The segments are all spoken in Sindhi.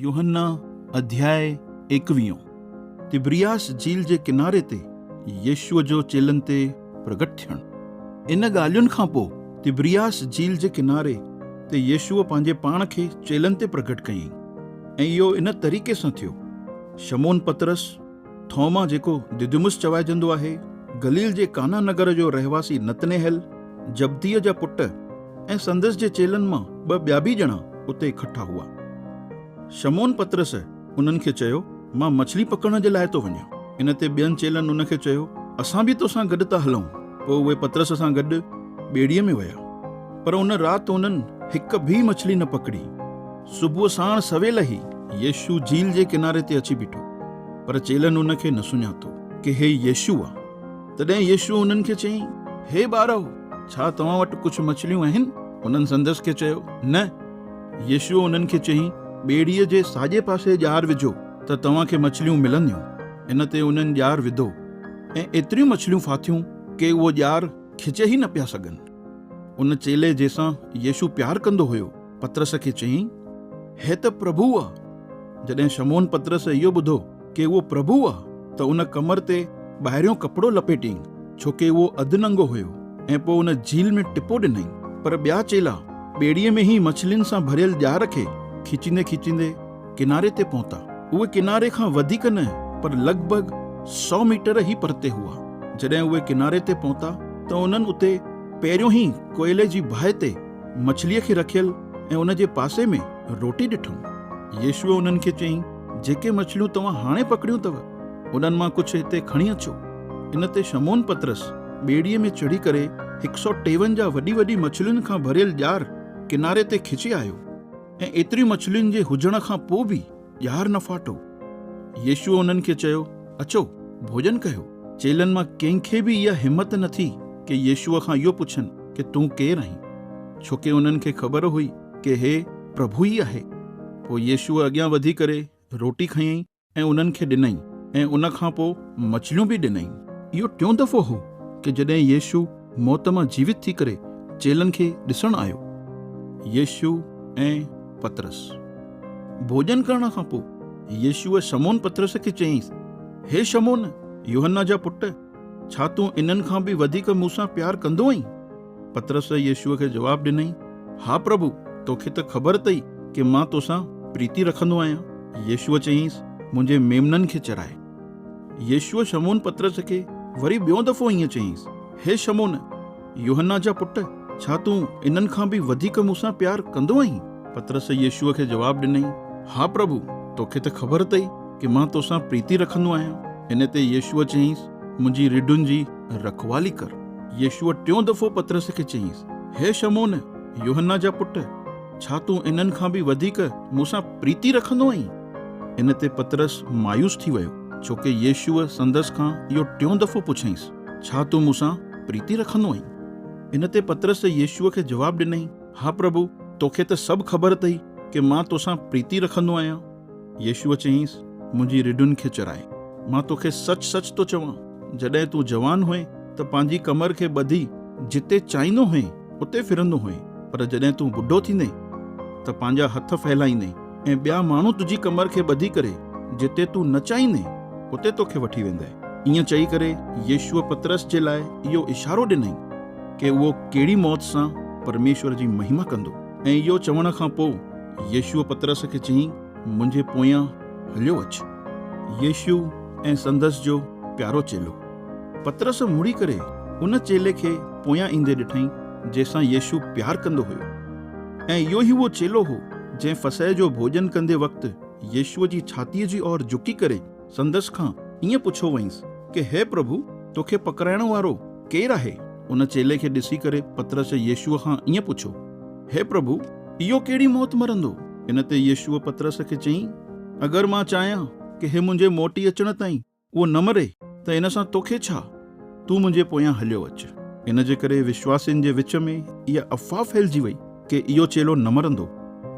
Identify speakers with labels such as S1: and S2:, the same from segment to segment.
S1: يوحنا اڌياء ايڪويهون، تبرياس جيل جي ڪناري تي يسوع جو چيلن تي پرگٽ ٿيڻ. ان ڳالهين کان پوء تبرياس جيل جي ڪناري تي يسوع پنهنجي پاڻ کي چيلن تي پرگٽ ڪيائين ۽ اهو ان طريقي سان ٿيو، شمعون پطرس، ٿوما جيڪو دديمس چوائجندو آهي، گليل جي ڪانا نگر جو رهواسي نتنيهيل، جبديء جا پٽ ۽ سندس جي چيلن مان ٻه ٻيا به ڄڻا اتي اڪٺا هئا. شمعون پطرس انهن کي چيو، مان مڇلي پڪڙڻ جي لاء ٿو وڃان. ان تي ٻين چيلن ان کي چيو، اسان به توسان گڏ ٿا هلون. پوء اهي پطرس سان گڏ ٻيڙيء ۾ ويا، پر ان رات انهن هڪ به مڇلي نه پڪڙي. صبح ساڻ سويل ئي يسوع جھيل جي ڪناري تي اچي بيٺو، پر چيلن ان کي نه سڃاتو ڪي هي يسوع آ. تڏهن يسوع انهن کي چيائين، هي ٻارؤ! ڇا توهان وٽ ڪجھه مڇليون آهن؟ انهن سندس کي چيو، نه. يسوع انهن کي چيائين، ٻيڙيء جي ساڄي پاسي ڄار وجھو ته توهان کي مڇليون ملنديون. ان تي انهن ڄار وڌو ۽ ايتريون مڇليون ڦاٿيون ڪي اهو ڄار کچي ئي نه پيا سگھن. ان چيلي جنهن سان يسوع پيار ڪندو هيو، پطرس کي چيائين، هي ته پرڀو آ. جڏهن شمعون پطرس اهو ٻڌو ڪي اهو پرڀو آ ته ان ڪمر تي ٻاهريون ڪپڙو لپيٽيائين، ڇو ڪي اهو اڌ ننگو هيو، ۽ پوء ان جھيل ۾ ٽپو ڏنائين. پر ٻيا چيلا ٻيڙيء ۾ ئي مڇلين سان ڀريل ڄار کي کيچيندي کيچيندي ڪناري تي پهتا. اهي ڪناري کان وڌيڪ نه پر لڳ ڀڳ سؤ ميٽر ئي پرتي هئا. جڏهن اهي ڪناري تي پهتا ته انهن اتي پهريون ئي ڪوئلي جي باهه تي مڇليء کي رکيل ۽ ان جي پاسي ۾ روٽي ڏٺم. يسوع انهن کي چيائين، جيڪي مڇليون توهان هاڻي پڪڙيون اٿو، انهن مان ڪجهه هتي کڻي اچو. ان تي شمعون پطرس ٻيڙيء ۾ چڙهي ڪري هڪ سؤ ٽيونجاهه وڏي وڏي مڇلين کان ڀريل ڄار ڪناري تي کچي آيو. ۽ ايتريون مڇلين جي هجڻ کان پوء به ڄار نه ڦاٽو. يسوع انهن کي چيو، اچو، ڀوڄن ڪيو. چيلن مان ڪنهن کي به اها همت نه ٿي ڪي يسوع کان اهو پڇن ڪي تون ڪير آهين؟ ڇو ڪي انهن کي خبر هئي ڪي هي پرڀو ئي آهي. پوء يسوع اڳيان وڌي ڪري روٽي کنيائين ۽ انهن کي ڏنائين ۽ ان کان پوء مڇليون به ڏنائين. اهو ٽيون دفعو هو ڪي جڏهن يسوع. موت مان جيوت ٿي ڪري چيلن کي ڏسڻ آيو. يسوع ۽ پطرس. ڀوڄن ڪرڻ کان پوء يسوع شمعون پطرس کي چيائينس، هي شمعون، يوحنا جا پٽ، ڇا تون انهن کان به وڌيڪ مون سان پيار ڪندو آهين؟ پطرس يسوع کي جواب ڏنائين، ها پرڀو، توکي ته خبر اٿئي ڪي مان توسان پريتي رکندو آهيان. يسوع چيائينس، منهنجي ميمنن کي چرائي. يسوع شمعون پطرس کي وري ٻيون دفعو ائين چيائينس، هي شمعون، يوحنا جا پٽ، ڇا تون انهن کان به وڌيڪ مون سان پيار ڪندو آهين؟ پطرس يسوع کي جواب ڏنائين، ها پرڀو، توکي ته خبر اٿئي ڪي مان توسان پريتي رکندو آهيان. ان تي يسوع چيائينس، منهنجي رڍن جي رکوالي ڪر. يسوع ٽيون دفعو پطرس کي چيائينس، هي شمعون، يوحنا جا پٽ، ڇا تون انهن کان به وڌيڪ مون سان پريتي رکندو آهين؟ ان تي پطرس مايوس ٿي ويو، ڇو ڪي يسوع سندس کان اهو ٽيون دفعو پڇيائينس، ڇا تون مون سان پريتي رکندو آهين؟ ان تي پطرس يسوع کي جواب ڏنائين، ها پرڀو، توکي ته سڀ خبر اٿئي ڪي مان توسان پريتي رکندو آهيان. يسوع چيائينس، منهنجي رڍن کي چرائي. مان توکي سچ سچ ٿو چوان، جڏهن تون جوان هئين ته پنهنجي ڪمر کي ٻڌي جتي چاهيندو هئين، اتي ڦرندو هئين، پر جڏهن تون ٻڍو ٿيندين ته پنهنجا هٿ ڦهلائيندين ۽ ٻيا ماڻهو تنهنجي ڪمر کي ٻڌي ڪري جتي تون نه چاهيندين اتي توکي وٺي ويندائين. ائين چئي ڪري يسوع پطرس جي لاء اهو اشارو ڏنائين ڪي اهو ڪهڙي موت سان پرميشور جي مهما ڪندو ۽ اهو چوڻ کان پوء يسوع پطرس کي چيائين منهنجي پويان هليو اچ. يسوع ۽ سندس جو پيارو چيلو. پطرس مڙي ڪري ان چيلي کي پويان ايندي ڏٺائين جنهن سان يسوع پيار ڪندو هيو ۽ اهو ئي اهو چيلو هو جنهن فسح جو ڀوڄن ڪندي وقت يسوع جي ڇاتيء جي اور جهڪي ڪري سندس کان ائين پڇيو هئائينس ڪي هي پرڀو توکي پڪڙائڻ وارو ڪير آهي؟ ان چيلي کي ڏسي ڪري پطرس يسوع کان ائين پڇيو هي پرڀو اهو ڪهڙي موت مرندو؟ ان تي يسوع پطرس کي چيائين اگر مان چاهيان ڪي هي منهنجي موٽي اچڻ تائين اهو نه مري ته ان سان توکي ڇا؟ تون منهنجي پويان هليو اچ. ان جي ڪري وشواسين جي وچ ۾ اها افواهه ڦهلجي وئي ڪي اهو چيلو نه مرندو.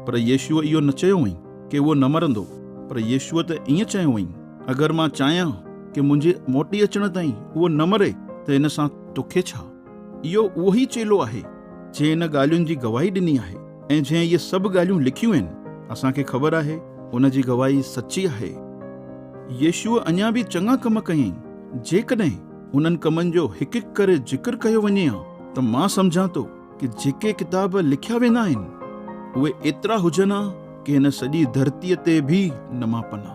S1: پر يسوع اهو نه چيو هئائين ڪي اهو نه مرندو، پر يسوع ته ائين چيو هئائين، اگر مان چاهيان ڪي منهنجي موٽي اچڻ تائين اهو نه مري ته ان سان توکي ڇا؟ اهو اهو ئي چيلو آهي، جنهن ان ڳالهين جي گواهي ڏني آهي ۽ جنهن اهي سڀ ڳالهيون لکيون آهن. اسان کي خبر آهي، ان جي گواهي سچي آهي. يسوع اڃا به چڱا ڪم ڪيائين. جيڪڏهن انهن ڪمن جو هڪ هڪ ڪري ذڪر ڪيو وڃي ها ته مان سمجهان ٿو ته جيڪي ڪتاب لکيا ويندا آهن، اهي ايترا هجن ها ڪي هن سڄي ڌرتيء تي به نه ماپن ها.